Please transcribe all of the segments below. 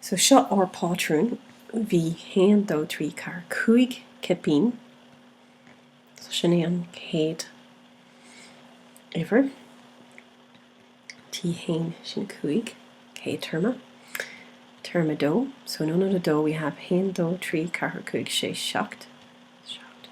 So seo ár bpátrún, bhí haon dó trí ceathair cúig cipín, so sin é an chéad uimhir, T a haon sin cúig, céad téarma, téarma a dó, so in ionad dó we have haon dó trí ceathair cúig sé seacht, seacht.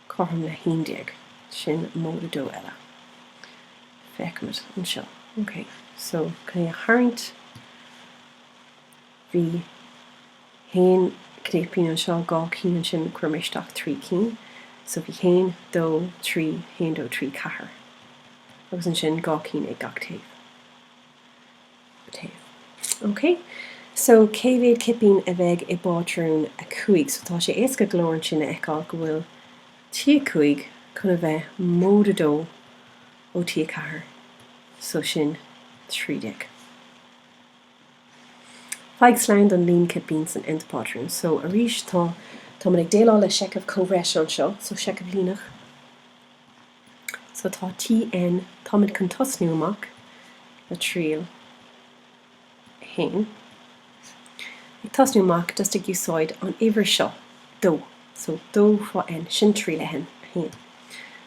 cothrom le haon déag. Sin móide dó eile. Feicimid anseo, ok, so chun é a tharraingt bhí haon cipín anseo, dhá cinn ansin, chuir mé isteach trí cinn, so bhí haon, dó, trí, haon, dó, trí, ceathair, agus ansin dhá cinn ag gach taobh. so cé mhéad cipín a bheidh i bpátrún a cúig? So tá sé éasca go leor ansin a fheiceáil go bhfuil T5 chun a bheith móide 2 ó T4, so sin 13. Faigh slonn don líon cipín san nth pátrún. So arís tá táimid ag déileáil le seicheamh comhbhreise anseo, so seicheamh líneach. So tá T. N. táimid chun tosnú amach le triail a haon, ag tosnú amach just ag úsáid an uimhir seo dó, so dó fá N, sin triail a haon.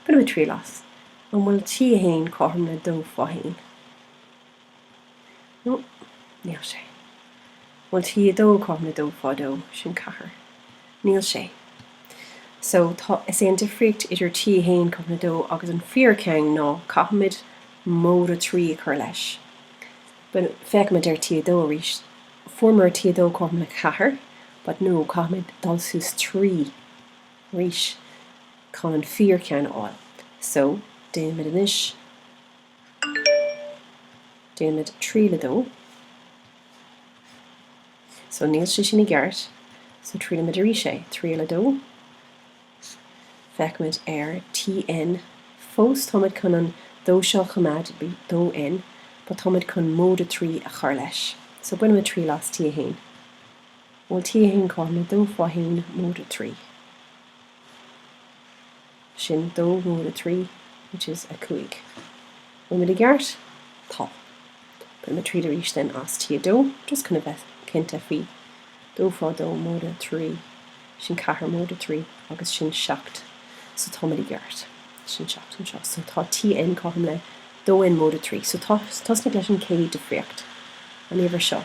Bainimid triail as, an bhfuil T a haon cothrom le dó fá haon? no níl sé. Bhfuil T2 cothrom le dó fá dó, sin ceathair. Níl sé. So, tá, is é an difríocht idir T1 cothrom le dó agus an fíor ceann ná caithfimid móide trí a chur leis. But féachaimid ar T2 arís. Fuaireamar T2 cothrom le ceathair, but no, caithfimid dul suas trí arís chun an fíor ceann a fháil. So, déanaimid anois. Déanaimid triail a dó. So, níl sé sin i gceart. So, triailaimid arís é. Triail a dó. Feicimid ar TN. Fós, táimid chun an dó seo a choimeád, dó N, but táimid chun móide trí a chur leis. So, bainimid triail as T1. Bhfuil T1 cothrom le dó fá haon, móide trí. sin dó móide a trí, which is a cúig. Bhfuil muid i gceart? Tá. Bainimid triail arís then as T2, just chun a bheith cinnte faoi dó fá dó móide a trí, sin ceathair móide a trí agus sin seacht. So tá muid i gceart. Sin seacht anseo. So tá Tn cothrom le dó N móide a trí. So tosnaigh leis an chéad difríocht, an uimhir seo.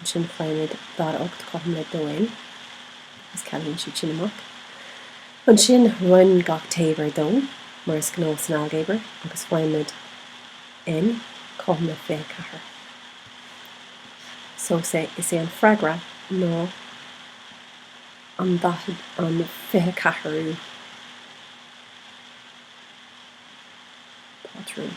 Ansin faighimid daichead ocht cothrom le dó N, agus cealaíonn siad sin amach. Ansin roinn gach taobh ar dó, mar is gnách san ailgéabar, agus faighimid N cothrom le fiche ceathair. So is é is é an freagra ná an an fiche ceathrú pátrún.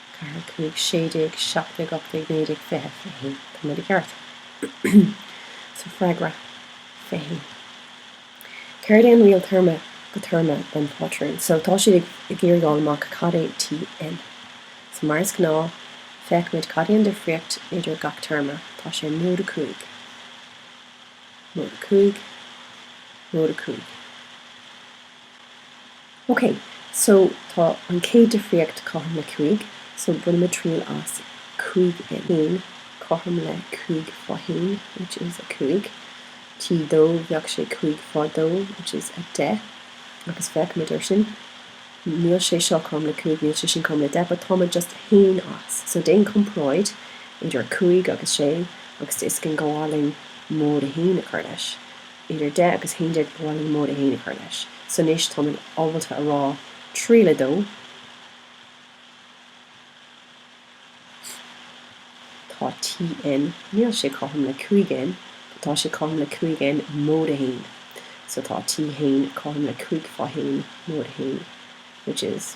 Ceathair cúig sé déag seacht déag ocht déag naoi déag fiche fiche haon tá muid i gceart. So freagra, fiche haon. Céard é an riail téarma go téarma don phátrún so? Tá siad ag iarraidh fháil amach cad é TN so. Mar is gnáth, feicimid cad é an difríocht idir gach téarma. Tá sé móide a cúig. Móide a cúig. Móide a cúig. OK, so tá an chéad difríocht cothrom le cúig, so bainimid triail as cúig N cothrom le cúig fá haon, which is a cúig. T dó, bheadh sé cúig fá dó, which is a deich, agus féachfaimid air sin. Níl sé seo cothrom le cúig, níl sé sin cothrom le deich, but táimid just a haon as. So déan comparáid idir a cúig agus sé agus tá 'fhios againn go bhfuil orainn móide a haon a chur leis. idir deich agus haon déag go bhfuil orainn móide a haon a chur leis. So anois táimid ábalta a rá triail a dó tá T. N. níl sé cothrom le cúig N. but tá sé cothrom le cúig N. móide a haon. So tá T. haon cothrom le cúig fá haon móide a haon, which is.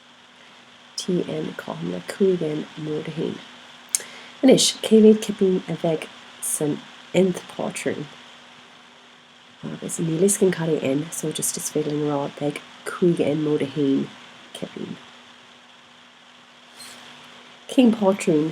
TN, Cothrom le cúig N móide a haon. Anois, cé mhéad cipín a bheidh san nth pátrún? Agus níl 'fhios againn cad é N, so just is féidir linn a rá, beidh cúig N móide a haon cipín. Cén pátrún?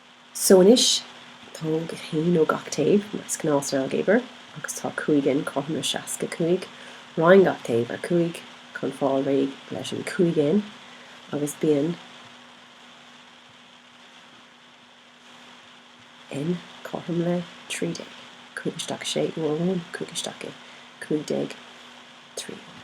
So anois, tóg haon ó gach taobh, mar is gnáth san ailgéabar, agus tá cúig N, cothrom le seasca cúig. Roinn gach taobh ar cúig, chun fáil réidh leis an cúig N, agus bíonn N, cothrom le trí déag. Cúig isteach i sé uair amháin, cúig isteach i, cúig déag trí uair.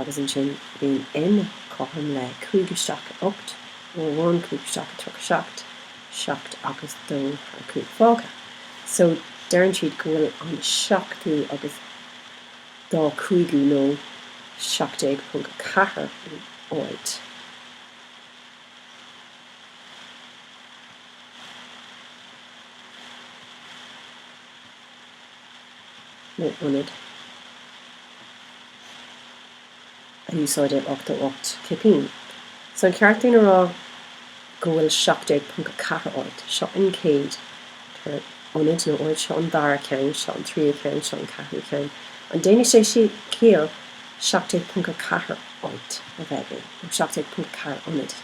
agus ansin bíonn N cothrom le cúig isteach i ocht, uair amháin, cúig isteach i tríocha seacht, seacht agus dó thar cúig fágtha. So deireann siad go bhfuil an seachtú agus dá cúigiú nó seacht déag ponc a ceathair in áit nó ionad a úsáideadh 88 cipín. So an ceart dúinn a rá go bhfuil 17.4 áit, seo an chéad ionad nó áit, seo an dara ceann, seo an tríú ceann, seo an ceathrú ceann, an ndéanann sé ciall 17.4 áit a bheith againn nó 17.4 ionad?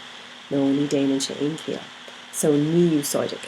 No, ní dhéanann sé aon chiall, so ní úsáideadh.